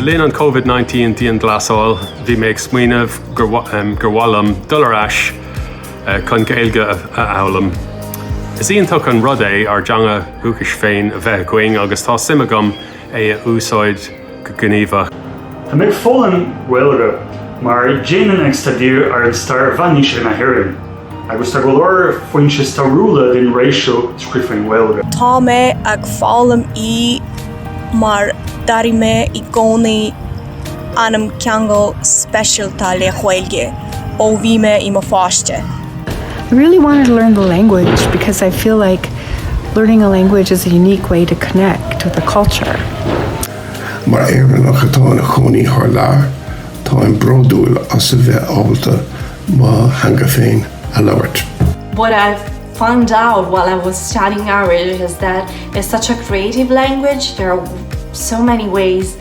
Le linn an Covid-19 dianghlasáil, bhí mé ag smaoineamh gur mhaith liom dul ar ais chun Gaeilge a fhoghlaim. Is iontach an rud é ár dteanga dhúchais féin a bheith againn agus tá suim agam é a úsáid go gníomhach. Tá mé ag foghlaim Gaeilge mar déanaim ag staidéar ar stair mheánaoise na hÉireann agus tá go leor foinse stairiúla den ré seo scríofa i nGaeilge. Tá mé ag foghlaim í mar d'airigh mé i gcónaí an ceangal speisialta le Gaeilge ó bhí mé i mo pháiste. I really wanted to learn the language because I feel like learning a language is a unique way to connect with a culture. Mar Éireannach atá ina chónaí thar lear, táim bródúil as a bheith ábalta mo theanga féin a labhairt. What I found out while I was studying Irish is that it's such a creative language, there are so many ways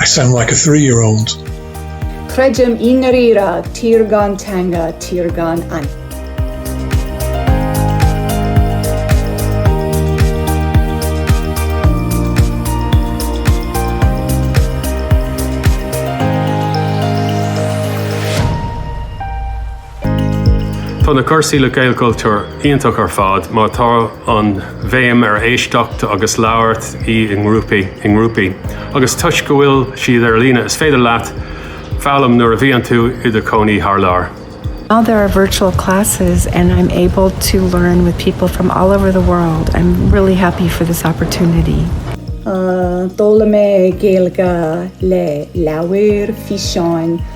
I sound like a three year old. Creidim i ndáiríre, tír gan teanga, tír gan anam. Tá na cúrsaí le Gaelchultúr iontach ar fad mar tá an bhéim ar éisteacht agus labhairt i ngrúpaí. Agus toisc go bhfuil siad ar líne is féidir leat foghlaim nuair a bhíonn tú i do cónaí thar lear. Now there are virtual classes and I'm able to learn with people from all over the world. I'm really happy for this opportunity. D'fhoghlaim mé Gaeilge le leabhair, físeáin,